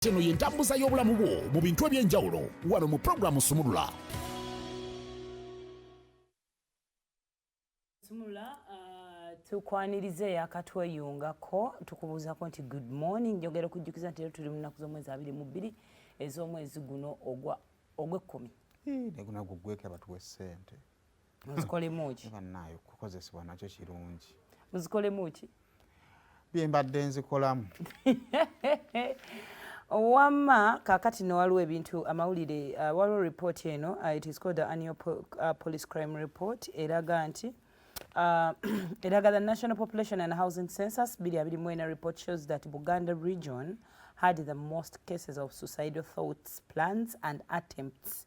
Eno y'entambuza y'obulamu bwo mu bintu eby'enjawulo wano mu pulogulaamu Sumulula. Sumulula uh, tukwaniriza eyakatweyungako tukubuuzako nti good morning njogera okujjukiza nti era tuli mu nnaku z'omwezi abiri mu bbiri ez'omwezi guno ogwekkumi. Naye gunagwo gwekaba tuwe ssente. muzikolemuki eh, banaye okukozesebwa nakyo kirungi muzikolemuki byembadde nzikolamu wamma kakati no waliwo ebintu amawulire uh, waliwo report eno uh, it is called the annual po uh, police crime report eraga nti uh, eraga the national population and housing census biri abiri mwena report shows that buganda region had the most cases of suicidal thoughts plans and attempts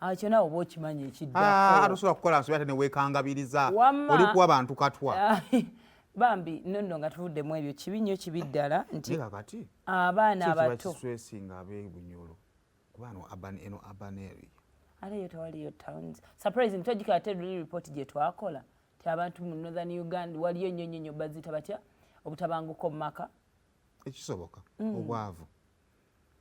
akyo ah, nawe oba okimanyi ekiddatosobola ah, kukola nsobi ate newekangabiriza oli kuwa bantu katwa ah, bambi nonno nga tuvuddemu ebyo kibi nnyo kibi ddala nti abaana abato nga abebunyolo kubano eno abaneri ate yo tewaliyo towns surprise ntwajika ate luli report gye twakola ti abantu mu northern uganda waliyo nnyo nnyo nnyo bazita batya obutabanguko mu maka ekisoboka mm. obwavu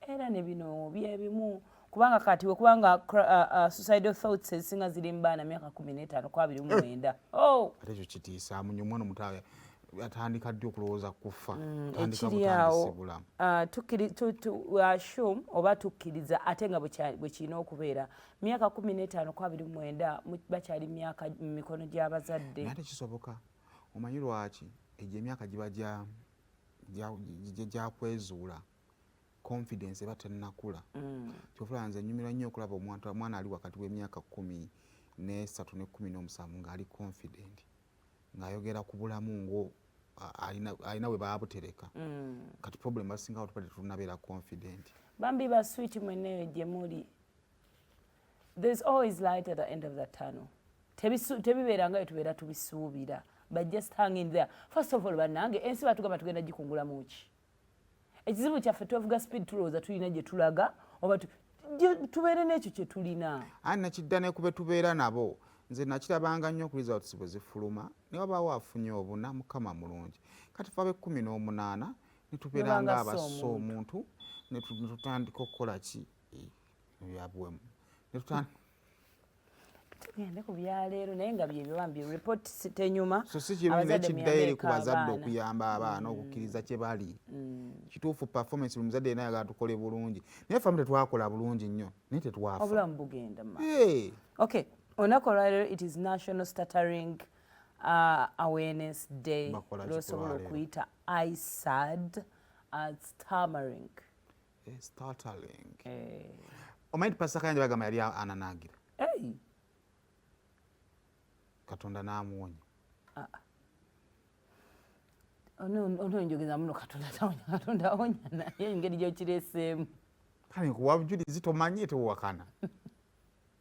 era ne bino byebimu kubanga kati wekubanga uh, uh, suicidal thoughts ezisinga ziri mu baana myaka kumi n'etaano ku abiri mu eh. mwenda oh! ate ekyo kitiisa munyo omwana omuto atandika ddi okulowooza kufa mm, ekiryawo uh, ashum oba tukkiriza ate nga bwe kirina okubeera myaka kumi n'etaano ku abiri mu mwenda bakyali myaka mu mikono gy'abazadde ate kisoboka omanyi lwaki egyo emyaka giba gya gyakwezuula confidence eba tennakula mm. kyofula nze nyumira nnyo okulaba omuntu omwana ali wakati w'emyaka kumi n'esatu ne kumi n'omusanvu ng'ali confident ng'ayogera ku bulamu ngo alina we baabutereka mm. kati problem basinga batubadde tunabeera confident bambi ba switi mweneyo gye muli there's always light at the end of the tunnel tebibeera nga byetubeera tubisuubira but just hang in there first of all bannange ensi batugamba tugenda gikungulamu ki ekizibu kyaffe twevuga speed tulowooza tulina gye tulaga oba tubeere n'ekyo kye tulina ani nakidda ne kube tubeera nabo nze nakirabanga nnyo ku results bwe zifuluma ne wabaawo afunye obuna mukama mulungi kati fe ab'ekkumi n'omunaana ne tubeera nga abassa omuntu ne tutandika okukola ki ebyabuwemu netutandika tugende ku byaleero naye nga byebyo bambi report tenyuma so si kibi nekiddayo eri ku bazadde okuyamba abaana mm. okukkiriza kye bali mm. kituufu performance buli muzadde yena ayagala tukole bulungi naye famu tetwakola bulungi nnyo naye tetwafa obulamu bugenda ma ok olunaku olwaleero it is national stuttering uh, awareness day lwosobola okuyita isad as uh, tamering Eh, startling. Eh. Omanyi nti Pastor Kayanja bagamba yali ananaagira. Hey. Katonda n'amuwonya. Ah. ah. ononjogeza muno katonda tawonya katonda awonya naye engeri gyokireseemu kale nkuwa bujulizi tomanye tewakana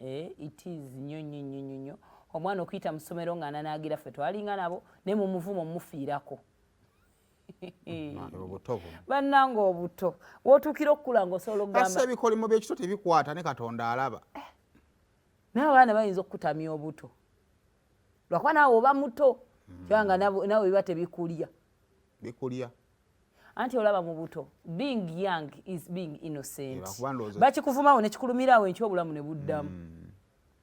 Eh, it is nyo nyo nyo nyo nyo omwana okuyita mu ssomero nga ananaagira ffe twalinga nabo naye mu muvumo mufiirako bannanga obuto wotuukira okukula nga osobola okugamba ebikolimo byekito tebikwata ne katonda alaba eh, naye abaana bayinza okukutamya obuto lwakuba naawe oba muto hmm. kubanga nawe biba tebikulya bikulya anti olaba mu buto being young is being innocent bakikuvumawo nekikulumiraawo enkyo obulamu ne buddamu mm.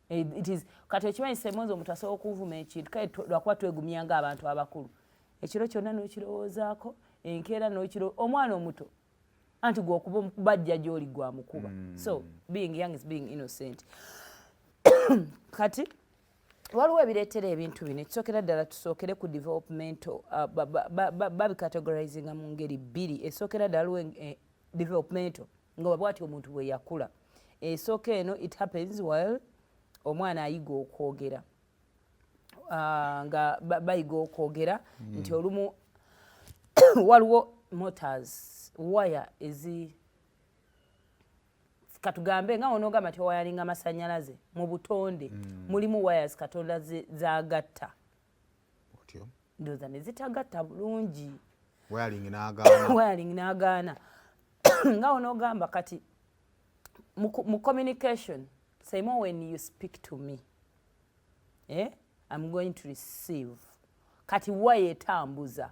eh, it is kati okimanyi semonzi omuntu asobola okuvuma ekintu kale lwakuba twegumya nga abantu abakulu ekiro kyonna nokirowoozaako enkeera nokiro omwana omuto anti gwokuba bajja gyoli gwamukuba mm. so being young is being innocent kati waliwo ebireetera ebintu bino ekisookera ddala tusookere ku developmental uh, babicategorizinga mu ngeri bbiri esookera ddala waliwo eh, developmental nga waba ati omuntu bwe yakula esooka eno it happens while omwana ayiga okwogera uh, nga bayiga okwogera hmm. nti olumu waliwo motors waya ezi katugambe nga wonogamba nti owayalinga masanyalaze mu butonde mm. mulimu wires katonda zagatta ndoza nezitagatta bulungi wayaling nagaana nga wonogamba kati mu communication same when you speak to me eh? I'm going to receive kati wayo etambuza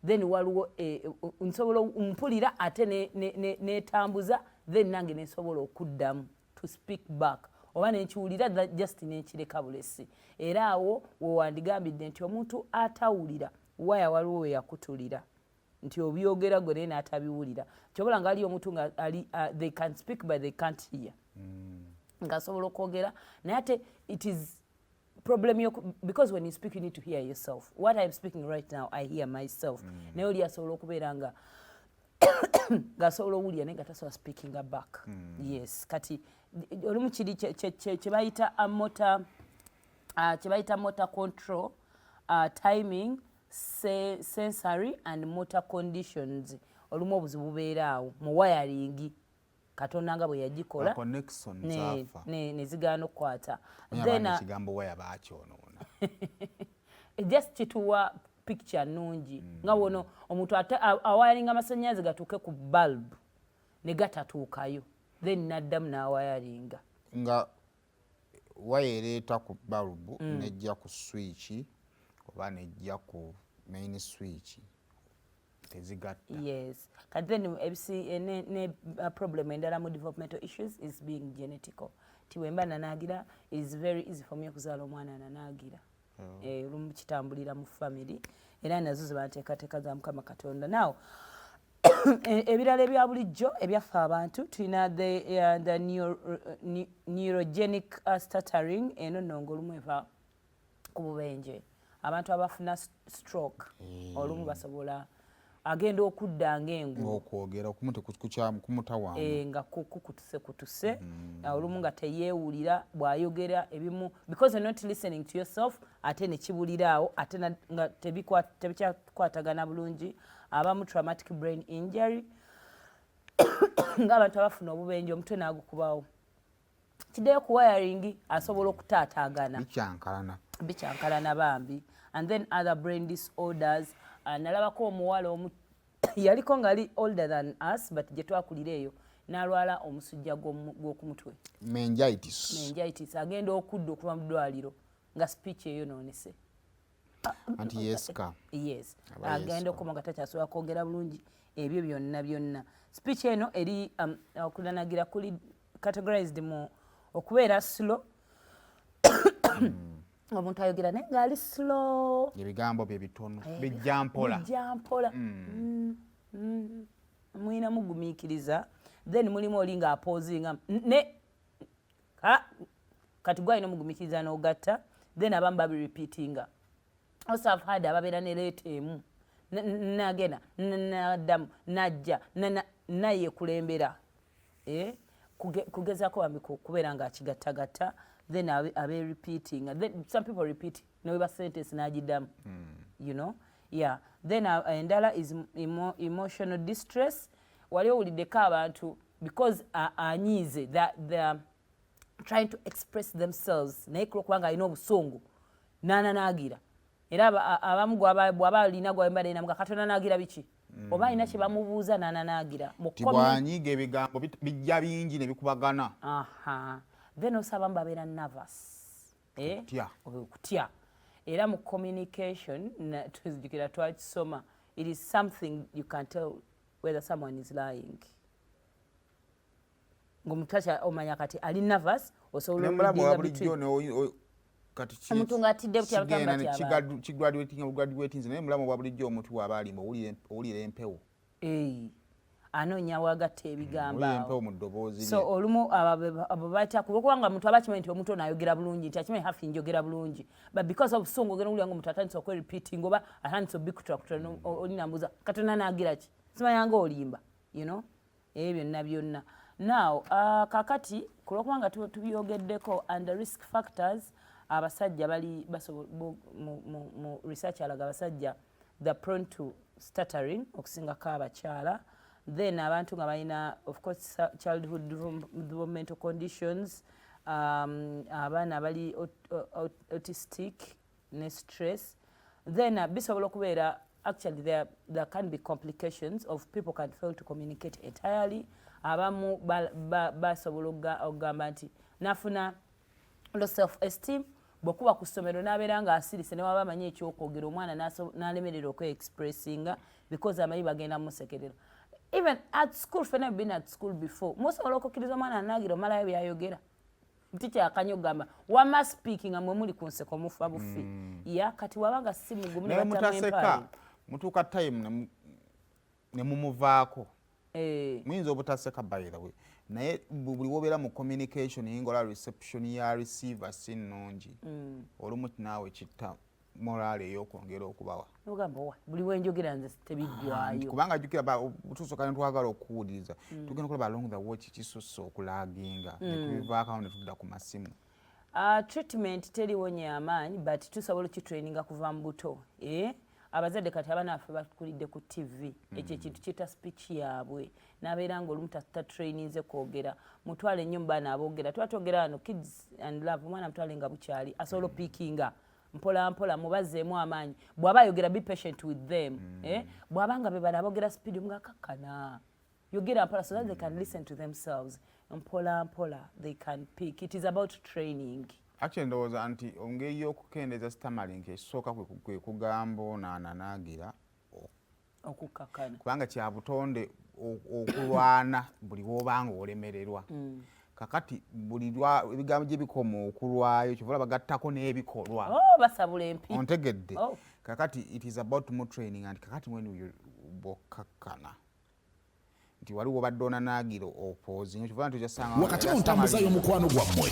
then waliwo eh, eh, nsobola mpulira ate netambuza then nange nensobola okuddamu to speak back oba nenkiwulira just nenkireka bulesi era awo wewandigambidde nti omuntu atawulira waya waliwo weyakutulira nti obyogera gwe naye n'atabiwulira kyobola nga aliyo omuntu nga ali uh, they can speak but they can't hear mm. nga asobola okwogera naye ate it is problem yo because when you speak you need to hear yourself what i'm speaking right now i hear myself mm. naye oli asobola okubeera nga ngasobola owulira naye nga tasobola speaking back mm. yes kati olumu kiri kyebayita mota kyebayita mota uh, control uh, timing sensory and motor conditions olumu obuzibu bubeera awo mu wayaringi katonda nga bwe yagikola ne zigaana okukwata ekigambo waya bakyonoona eh, just kituwa picture nungi hmm. nga wono omuntu ate awayaringa amasannyalaze gatuuke ku bulb ne gatatuukayo then naddamu n'awayaringa nga waya ereeta ku balubu mm. nejja ku swiiki oba nejja ku main swiiki tezigatta yes kati then ebisi eh, ne, ne uh, problem endala mu developmental issues is being genetical ti wemba nanaagira is very easy for me okuzaala omwana nanaagira mm. eh, olumu kitambulira mu family era nazo zebanteekateeka za mukama katonda naw e, ebirala ebya bulijjo ebyaffe abantu tulina the, uh, the uh, neurogenic uh, stuttering eno nonga olumu eva ku bubenje abantu abafuna stroke mm. olumu basobola agenda okudda ngaenguokwogera okumu tekukyamu kumutawamu e, nga kukutuse kutuse mm. olumu nga teyewulira bwayogera ebimu because not listening to yourself ate nekibuliraawo ate nga tebikyakwatagana bulungi abamu traumatic brain injury ngaabantu abafuna obubenje omutwe nagukubawo kideyo ku wiring asobola okutaataagana bikyankalana bikyankalana bambi and then other brain disorders uh, nalabako omuwala omu yaliko ngali older than us but gye twakulira eyo nalwala omusujja gw'okumutwe mengitis mengitis agenda okudda okuva mu ddwaliro nga speech eyonoonese anti yeska yes agenda okukoma nga takyasobola kwogera bulungi ebyo byonna byonna speech eno eri um, okulanagira kuli categorized mu okubeera slow hmm. omuntu ayogera naye ngaali slow ebigambo bye bitono eh, bijja mpola bijja mpola hmm. Hmm. mulina mugumiikiriza then mulimu oli nga apozinga ne kati gwe alina omugumikiriza n'ogatta then abamu babirepeatinga also have had ababeera ne leeta emu nagenda naddamu najja nayekulembera eh, kugezaako bambi kubeera nga akigattagatta then abe repeating then some people repeat neweba sentence n'agiddamu hmm. you know yeah then uh, endala is emo, emotional distress wali owuliddeko abantu because anyiize uh, that the trying to express themselves naye kulwokuba nga alina obusungu nananaagira era abamu bwaba alina gwabalenamga katonda nagira biki mm. oba alina kyebamubuuza nananagira bwanyiga ebigambo bijja bingi nebikubagana then also abamu babeera nervous eh? okutya era mu communication tuzijukira twakisoma it is something you can tell whether someone is lying ngomuntu akya omanya kati ali nervous osobola okumulamuwa bulijjo omuntu ng'atidde butyakigraduatinze naye mulamu obwa bulijjo omuntu waaba alima owulira empewo anoonya wagatta ebigamboso olumu abo bayita kuba kubanga omuntu aba akimanyi nti omuntu ono ayogera bulungi nti akimanyi hafi njogera bulungi but because of sungu ogenda owulira nga omuntu atandisa okwerepeating oba atandisa obikutulakutura olinambuza katonda naagira ki simayanga olimba you know ebyo byonna byonna now uh, kakati kulwokuba nga tubyogeddeko and the risk factors abasajja bali mu research alaga abasajja the prone to stuttering okusingako abakyala then abantu nga balina of course childhood developmental conditions um, abaana bali autistic ne stress then uh, bisobola okubeera actually there, there can be complications of people can fail to communicate entirely abamu basobola ba, ba okugamba nti nafuna lo self esteem bwekuba ku ssomero n'abeera ng'asirise ne waba amanyi ekyokwogera omwana n'alemerera okweexpressinga because amanyi bagenda musekerera even at school fena been at school before musobola okukkiriza omwana anaagira omalayo byayogera tikyakanyo gamba wama speaking amwe muli kunseko mufa bufi mm. ya kati wabanga si mugumu ne mutaseka mutuka time ne mumuvaako eh. muyinza obutaseka by the way naye buli wobeera mu communication yingola reception ya receiver si nnungi mm. olumu naawe kitta morale eyokwongera okubawa ogamba owa buli wenjogera nze tebiggwayo kubanga jukira tusoka netwagala okuwuliriza mm. tugenda okulaba along the watch kisusse okulaginga mm. netubivaakao netudda ku masimu ah, treatment teriwo nyamaanyi but tusobola okitraininga kuva mu buto eh? abazadde kati abaana baffe bakulidde ku ttivi mm. ekyo ekintu kiyita speech yaabwe nabeera nga olumu tatraininze kwogera mutwale nnyo mu baana aboogera tuba twogera wano kids and love omwana mutwale nga bukyali asobola mm. opiikinga mpola mpola mubazeemu amaanyi bwaba ayogera be patient with them mm. eh? bwaba nga bebana abogera speed omugakakkana yogera mpola so that they can listen to themselves mpola mpola they can pick it is about training actually ndowooza nti ongeri yokukendeeza stamalink ekisooka kwe kugamba onaananaagira okukakkana kubanga kya butonde okulwana buli wobanga olemererwa mm. kakati buli ebigambo gye bikoma okulwayo kyovola bagattako n'ebikolwa oh, basabula empi ontegedde oh. kakati it is about more training and kakati when bokkakkana nti waliwo obadde onanaagira opoozi wakati mu ntambuza y'omukwano gwammwe